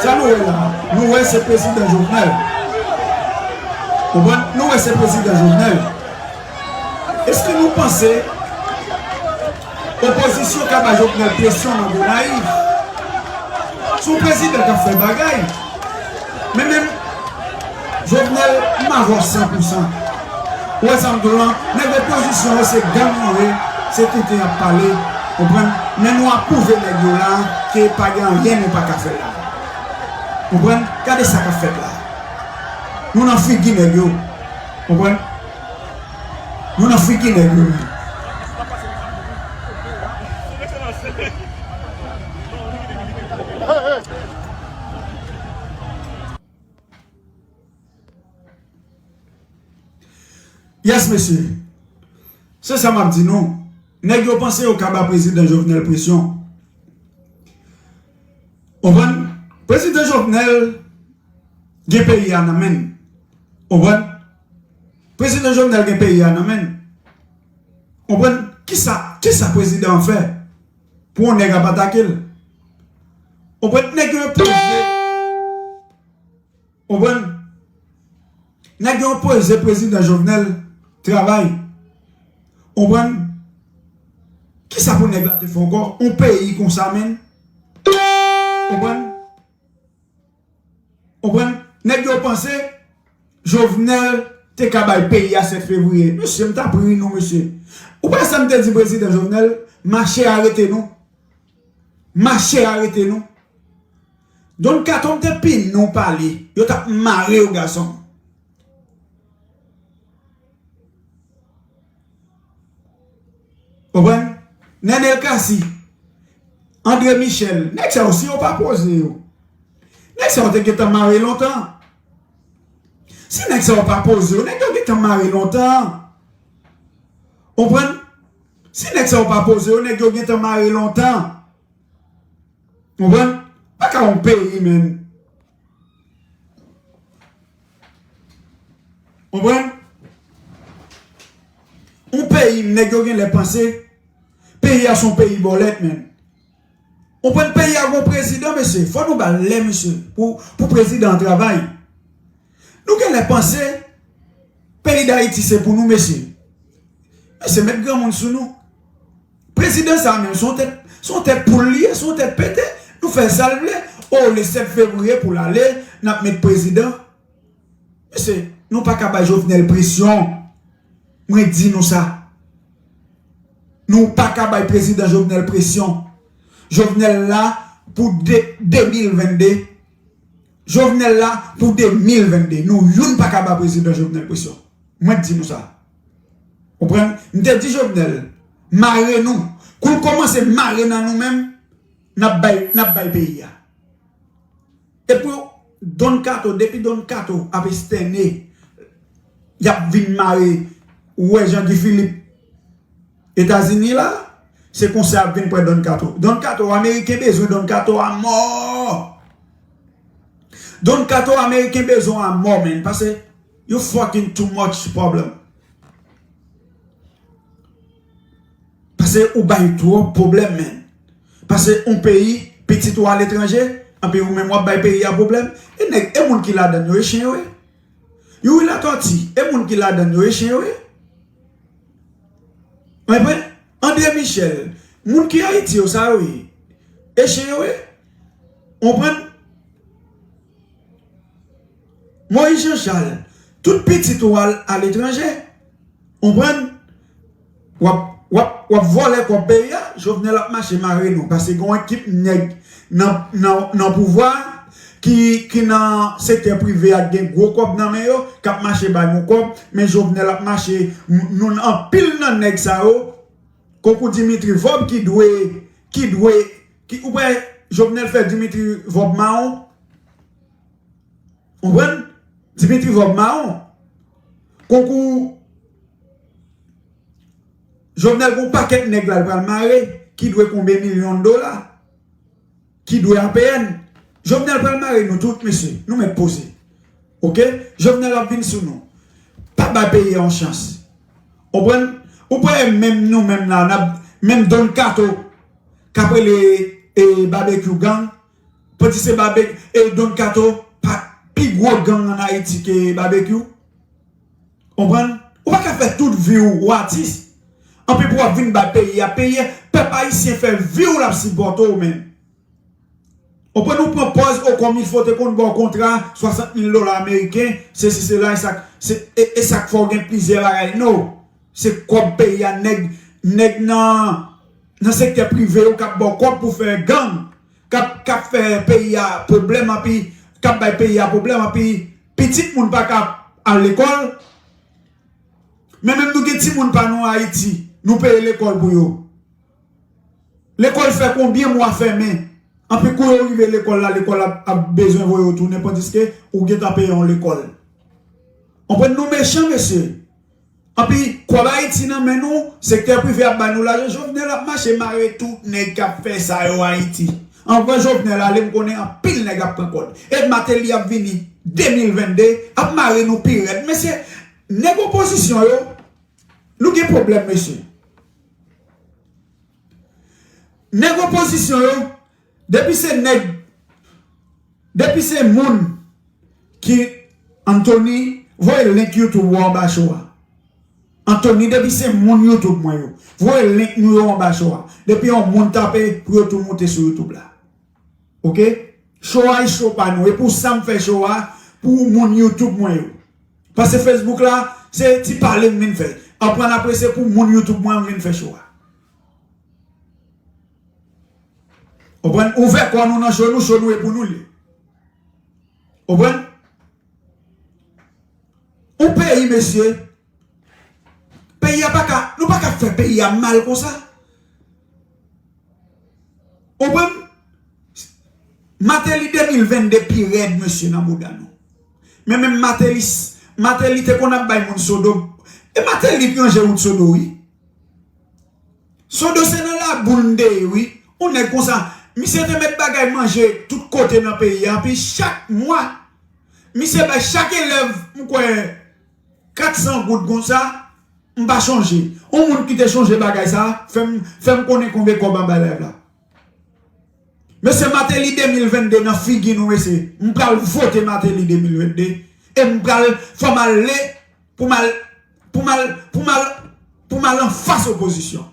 Sa nou wè la, nou wè se prezidan Jovenel. Konprann? Nou wè se prezidan Jovenel. Eske nou panse opozisyon ka ba Jovenel presyon nan Gonayiv? Se yon prezidan k ap fè bagay. Men menm Jovenel m avè w san pou san ou wè sam di w lan nèg opozisyon yo se gang yo ye se tenten yap pale konprann men nou apwouve nèg yo la ke pa gen anyen nou paka fè la konprann gade sa kap fèt la nou nan figi nèg yo konprann nou nan figi nèg yo menm. Yes mesye, se sa map di nou, neg yo panse yo ka ba prezidan Jovenel presyon. Konprann? Prezidan Jovenel gen peyi a nan men l. Konprann? Prezidan Jovenel gen peyi a nan men l. Konprann? Kisa, kisa prezidan an fè? Pou yon nèg ap atake l. Konprann? Nèg yo yon peze. Konprann? Nèg yo yon peze prezidan Jovenel travay. Konprann? Kisa pou nèg la te fè ankò? Yon peyi konsa menn. Konprann? Konprann? Nèg yo panse Jovenel te ka bay peyi a 7 fevriye. Mesye m tap ri nou mesye. Ou pa wè sa m te di prezidan Jovenel? Mache arete nou. Mache arete nou. Don kato m te pini w pale. Yo tap mare w gason m. Konprann? Nenel Cassy, André Michel, nèg sa yo si yo pa poze yo, nèg sa yo te gentan mare lontan. Si nèg sa yo pa poze yo, nèg yo gentan mare lontan. Konprann? Si nèg sa yo pa poze yo, nèg yo gentan mare lontan. Konprann? Pa ka yon peyi menn. Konprann? Yon peyi nèg yo genlè panse peyi a son peyi bòlèt menn. Konprann peyi a gon prezidan mesye, fò nou bal lè misye pou prezidan an travay. Nou genlè panse peyi Dayiti se pou nou mesye. Mesye met granmoun sou nou. Prezidan sa menm son tèt son tèt poul li ye son tèt pete nou fèl sal vle oh le 7 fevrier poul ale nap met prezidan mesye nou paka bay jovenel presyon mwen di nou sa nou paka bay prezidan jovenel presyon jovenel la pou 2022 jovenel la pou 2022 nou youn paka ba prezidan jovenel presyon mwen t di nou sa. Konprann? M te di Jovenel, mare nou. Kou l kòmanse mare nan nou menm, n ap bay, n ap bay peyi a. E pou Don Kato, depi Don Kato ap estène, y ap vin mare, ou wè Jean Guy Philippe Etazini la, se konsa y ap vin pran Don Kato. Don Kato, Ameriken bezwen Don Kato a mò! Don Kato, Ameriken bezwen w a mò, menn, pase. You fucking too much problem. Pase ou bay trop problem man. Pase on peyi pitit ou al etranje anpi ou menm wap bay peyi a problem e neg e moun ki ladann yo e chen yo ye. Youri Latorti e moun ki ladann yo e chen yo ye. Mwen pwen Andre Michel moun ki Ayiti yo sa yo ye e chen yo ye. Ou pwen? Moïse Jean Charles tout pitit ou al aletranje konprann wap vòlè kòb peyi a Jovenel ap mache mare nou paske gen yon ekip nèg nan pouvwa ki nan sektè prive a gen gwo kòb nan men yo kap mache ba nou kòb men Jovenel ap mache nou anpil nan nèg sa yo konkou Dimitri vorb ki dwe Ki ou pè jovenel fè dimitri vòb maron ou konprann dimitri vòb maron konkou jovenel gon pakèt nèg lal pral mare ki dwe konbe milyon dola ki dwe apn jovenel pral mare nou tout mesye nou mèt poze ok jovenel ap vin sou nou pa bay peyi a yon chans ou konprann ou kwè menm nou menm la nap menm don kato kap rele e babekyou gang pwedi se babe e don kato pa pi gro gang an ayiti ke babekyou konprann ou pa ka fè tout viw ou atis anpi pou wap vin bay peyi a peyi a pèp ayisyen fè viw lap sipòte w menm konprann ou pran pòz o komifo te konn baw kontra 60 mil dola ameriken sesi sela esak se esak fè w gen plizyè bagay no. Se kob peyi a neg neg nan nan sekte prive yo kap baw kob pou fè gang kap kap fè peyi a problem anpi kap bay peyi a problem anpi pitit moun paka al lekol men menm nou gen ti moun pa nou ayiti nou peye lekol pou yo lekol fè konbyen mwa fèmen anpi kou yo rive lekol la lekol la ap bezwen voye yo tounen pandiske ou gentan peye yon lekol konprann nou mechan mesye. Anpi kòb ayiti nan men nou sektè prive ap ba nou lajan jovenel ap mache mare tout nèg kap fè sa yo ayiti anvan jovenel ale m konnen anpil nèg ap pran kòd e mateli ap vini 2022 ap mare nou pi rèd mesye nèg opozisyon yo nou gen pwoblèm mesye nèg opozisyon yo Depi se nèg Depi se moun ki Anthony voye link YouTube ou anba cho a Anthony depi se moun YouTube mwen yo voye link nou yo anba cho a depi yon moun tape pou yo tou moute sou YouTube la ok cho a cho pa nou e pou sam fè cho a pou moun YouTube mwen yo pase Facebook la se ti pale m vin fèl aprann apre se pou moun YouTube mwen yo m vin fè cho a. Konprann? Ouvè kò nou nan cho nou, cho nou e pou nou li. Konprann? Yon peyi mesye, peyi a pa ka, nou pa ka fè peyi a mal konsa. Konprann? Mateli 2022 pi rèd mesye nan mouda nou. Men menm Mateli, Mateli te konn ap bay moun sodo, e Mateli te ranje wout sodo wi. Sodo se nan laboul m te ye wi, on nèg konsa, misye te met bagay manje tout kote nan peyi a epi chak mwa misye bay chak elèv m kwè 400 goud konsa, m pa chonje, on moun ki te chonje bagay sa fè m konnen konbe kòb anba elèv la. Mesye mateli 2022 nan figi nou mesye m pral vote mateli 2022 e m pral fòm ale pou m al pou m al pou m al pou m al anfas opozisyon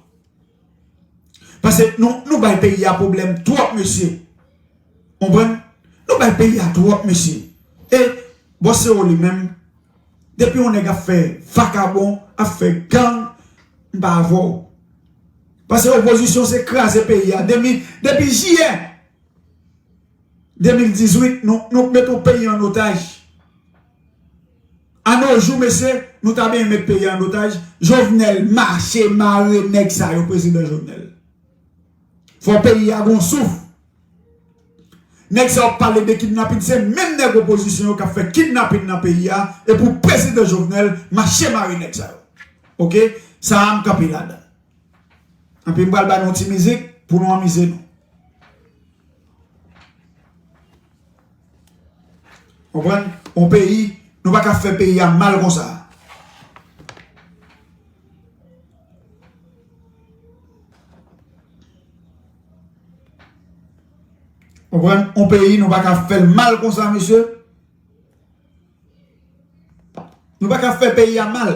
pase nou nou bay peyi a pwoblèm twòp mesye konprann nou bay peyi a twòp mesye e bòsero li menm depi yon nèg ap fè vakabon ap fè gang m pa avè w. Pase opozisyon se kraze peyi a depi depi jiyè 2018 nou nou met yon peyi an otaj a no jou mesye nou ta benyen met peyi a an otaj jovenel mache mare nèg sa yo prezidan jovenel fò peyi a gon souf nèg sa wap pale de kidnapin se menm nèg opozisyon yo kap fè kidnapin nan peyi a epou prezidan jovenel mache mare nèg sa yo ok sa a m kanpe ladann. Anpi m pral ba nou yon ti mizik pou nou anmize nou. Konprann? On peyi, nou pa ka fè peyi a mal konsa. Konprann? On peyi, nou pa ka fè l mal konsa, mesye. Nou pa ka fè peyi a mal.